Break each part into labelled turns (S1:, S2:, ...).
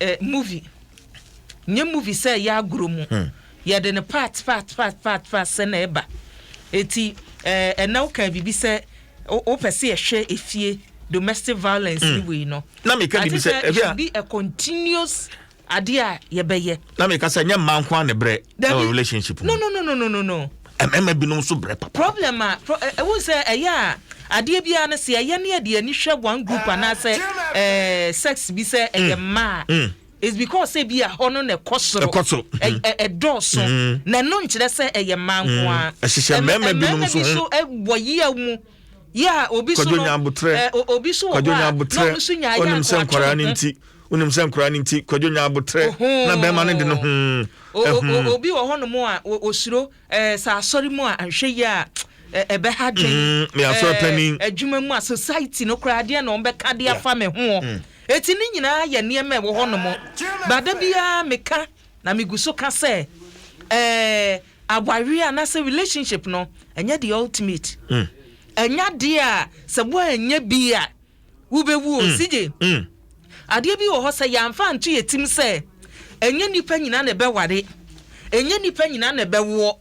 S1: eh,
S2: movie nyɛ movie sɛ ɛyɛ agorɔ mu hmm. yɛde no part part part part part sɛ na ɛba eti ɛɛ eh, ɛna woka biribi sɛ wopɛ sɛ yɛhwɛ efie domestic violence hmm. ni wei no na meka biribi sɛ
S1: ebi a be a
S2: continuous adeɛ a yɛbɛyɛ na meka sɛ nyɛ mmaa
S1: nko a ne brɛ Dabi. Ɛwɔ relationship mu. No no no no no
S2: no. Ɛmɛmɛ
S1: binom so brɛ papa. Problem a pro eh, ewu
S2: sɛ ɛyɛ a adeɛ biara no sɛ ɛyɛ ne ɛde ani hwɛ one group ah, anaasɛ ɛɛ eh, sex bi sɛ ɛyɛ mm, mmaa. Mm. It's because sɛ bi a hɔ no na ɛkɔ soro. Ɛkɔ soro. Ɛdɔɔso. Mm. Na ɛno nkyerɛ sɛ ɛyɛ mmaa nko ara. Ɛhyehyɛ mmarima
S1: binom so. Mmarima bi so ɛwɔ yia mu
S2: yà obi so no eh, obi so wɔ hɔ a na ɔno so nya ayé akɔ atwere ho
S1: wonim sɛ nkoraa no nti kwadwo nya abotrɛ na bɛrima no de no ho ɛho.
S2: obi wɔ hɔ nom a osuro ɛɛ sɛ asɔre mu a anhwɛ yi a ɛbɛ ha dwen mm, ɛɛ
S1: adwuma mu a society
S2: no koraa deɛ na wɔn bɛ ka de afa me ho mm. eti ne nyinaa yɛ nneɛma ɛwɔ hɔ nom baada biara meka na megu so ka sɛ ɛɛ awareɛ anaasɛ relationship no ɛnyɛ the ultimate ɛnya mm. deɛ a sɛ wɔn ɛnyɛ bi a. Wobɛwu o, CJ. Adeɛ bi wɔ hɔ sɛ yɛamfa anto yɛ tim sɛ ɛnyɛ nnipa nyina na ɛbɛware, ɛnyɛ nnipa nyina na ɛbɛwoɔ,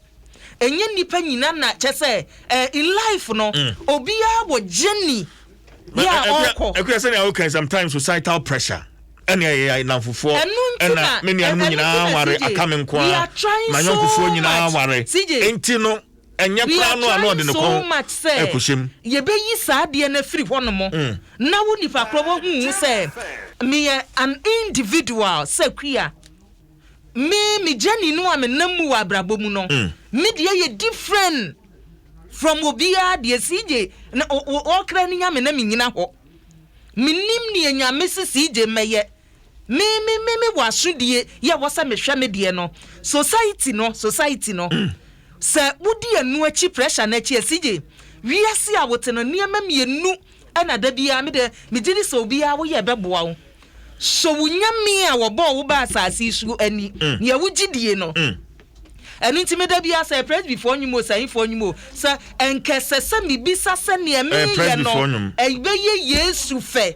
S2: ɛnyɛ nnipa nyina na kyɛ sɛ eh, in life no obiara wɔ journey bi a ɔkɔ. Ɛkura sɛnea woka
S1: sometimes societal pressure ɛne ɛyɛ namfofoɔ ɛna me nuanom nyinaa ware aka me nko a ma yɔnkofoɔ nyinaa ware nti no Ɛnyɛ koraa no a na ɔde ne kɔn rekɔhyem. We are trying so much sɛ yɛbɛyi saa
S2: adeɛ no afiri hɔnom na wo nipa korɔ wahu wo sɛ meyɛ an individual sɛ Kua. Me me journey no a menam mu wɔ abrabɔ mu no, me deɛ yɛ different from obiara deɛ. CJ na ɔkra ne Nyame na menyina hɔ. Menim neɛ Nyame se CJ mmɛyɛ. Me me me me wɔ asodie yɛ wɔ sɛ mehwɛ me deɛ no society no society no sɛ wodi ɛno akyi pressure no akyi CJ wiase a wote no nneɛma mmienu ɛna da biara me deɛ megye di sɛ obiara woyɛ ɛbɛboa wo sɔ wo nyame a wɔbɔɔ wo ba asase yi so ani nea wogye die no ɛno nti me da biara sɛ presbyfoɔ nnwom o sahifoɔ nnwom o sɛ ɛnkɛsɛ sɛ mebisa sɛ nea meyɛ no ɛbɛyɛ yesu fɛ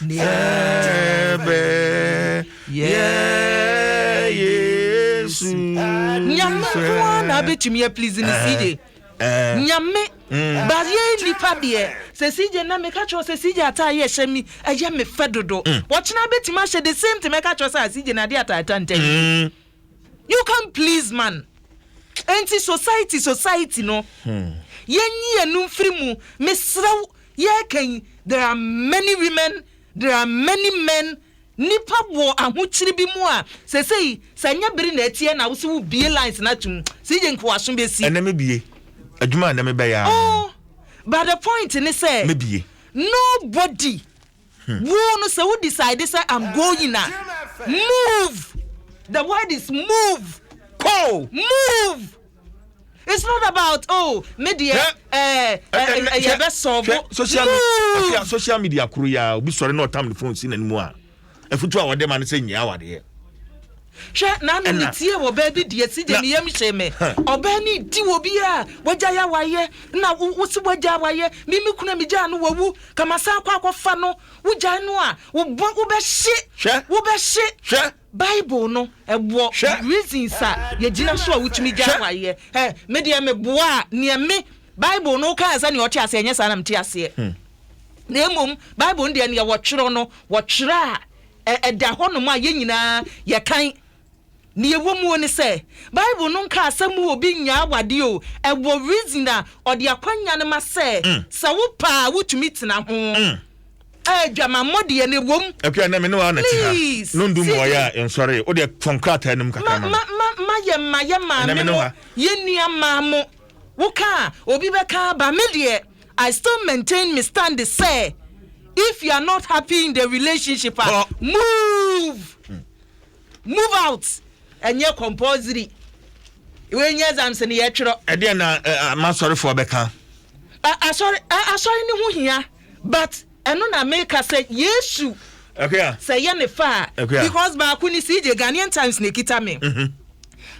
S2: Nebe
S1: ye Yesu. Nyame
S2: nkoa na abetumi a please ne CJ. Eh, eh. Nyame. Mm. But ye nipa deɛ sɛ CJ na meka kyerɛ sɛ CJ ataa yɛ hyɛ mi ɛyɛ me fɛ dodo. Mm. Wɔkyena abetumi ahyɛ the same thing mɛka kyerɛ sɛ ah, CJ na ade ataa ta ntɛn. Mm. You can please man. Enti society society no. Hmm. Yenyi yenu mfiri mu. Mesrew yɛkan there are many women there are many men nipa wɔ ahokyiri bi mu a sesei sɛ nyɛ bere na ɛteɛ na wosɛ wo bie lines na tum sɛ yɛ nkowaso bɛsi ɛnɛ me bie
S1: adwuma a na mebɛyɛ oh but the
S2: point ne sɛ me bie
S1: nobody
S2: Wo no sɛ wo decide sɛ I'm going a move the word is move kɔ
S1: move
S2: it's not about oh me deɛ ɛɛ ɛyɛ bɛ sɔɔbo
S1: move. social media koro ya obi sɔre na ɔtam ne phone si n'anim a afutu a wɔde ma no sɛ nyia awadeɛ. Hwɛ,
S2: naano me tiee wɔ baa bi deɛ, side ne yam hyee me. Ɔbaa no nti wɔ obiara a wagyae awareɛ, na wo, wose woagyae awareɛ, me me kunu a megyaa no wawu, ka masan akɔ akɔfa no, wogyae no a, wo bɔ, wobɛhye, Hwɛ, wobɛhye. hwɛ, Bible no, ɛwɔ hwɛ, reasons a yɛgyina so a wotumi gyae hwɛ. awareɛ. Ɛ, me deɛ meboaa neɛ me, Bible no wokaa sɛdeɛ ɔte aseɛ, ɛnyɛ saa na mete aseɛ. Na mmom, Bible no deɛ neɛ wɔtwerɛ no, wɔtwerɛ a Ɛda hɔnom a yɛn nyinaa yɛkan. Nea ɛwɔ mu ne sɛ, Bible no nka asɛm wɔ obi nya awadeɛ o, ɛwɔ reason a ɔde akwanya no ma sɛ, sɛ wopɛ a wotumi tena ho. Adwamammɔ deɛ na ɛwɔ mu. Akua, ɛnnɛ me ne wo ara na ɛte
S1: ha. No ndu mu ɔyɛ a ɛnsɔree. Wo deɛ, fam krataa no mu kakra ma me. Ma yɛn ma
S2: yɛn maame mo, yɛn nua mmaa mo. Woka a, obi bɛka aba. Me deɛ, I still maintain me stand sɛ if you are not happy in the relationship a move move out ɛnyɛ compulsory wei nyɛ exams ne yɛtwerɛ. ɛdeɛ na
S1: masɔrefoɔ bɛka. asɔre
S2: asɔre ne ho hia but ɛno na meka sɛ yesu sɛ
S1: yɛ ne fa a
S2: because baako ne cj ghanaian times na ɛkita me mm-hmm.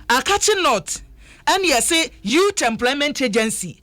S2: akakye north ɛne ɛse youth employment agency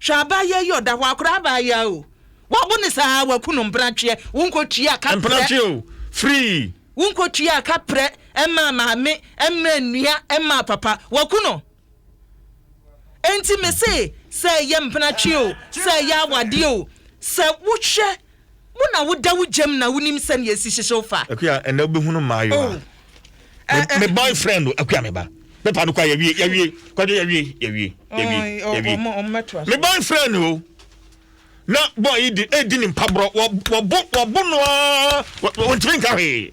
S2: Hwɛ abaayewa yi ɔda hɔ akora abaayewa o wɔbo ne saa waku no mpratweɛ wo nkɔtua ka mpratweɛ o
S1: free wo nkɔtua ka
S2: prɛ ɛma maame ɛma nnua ɛma papa waku no enti me se sɛ ɛyɛ mpratweɛ o sɛ ɛyɛ awadeɛ o sɛ wohwɛ Wo na wo da wo gyam na wo nim sɛnea esi hyehyew fa. Akua ɛnɛ wo bɛ hunu
S1: mmaayewa. Oh. Me, eh, eh. me boyfriend o, akua me ba. Me pa no kwa yɛwie, yɛwie, kwadwo yɛwie, yɛwie, yɛwie, yɛwie. Me boyfriend o. Na boy yi di, edi ne mpaborɔ, wɔbo, wɔbo no aa, wɔntumi nka hwee.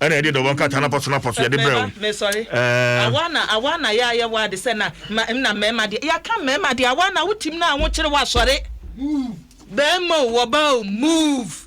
S1: Ɛna yɛde dɔbɔ nkrataa no apɔso no apɔso yɛde brɛ wo. Mesɔre.
S2: Ɛɛ. Awa na awa na yɛayɛ wo ade sɛ na ma na mmarima deɛ yɛaka mmarima deɛ awa na wotim na ahokyere wasɔre. Bɛrima o wɔbaa o move.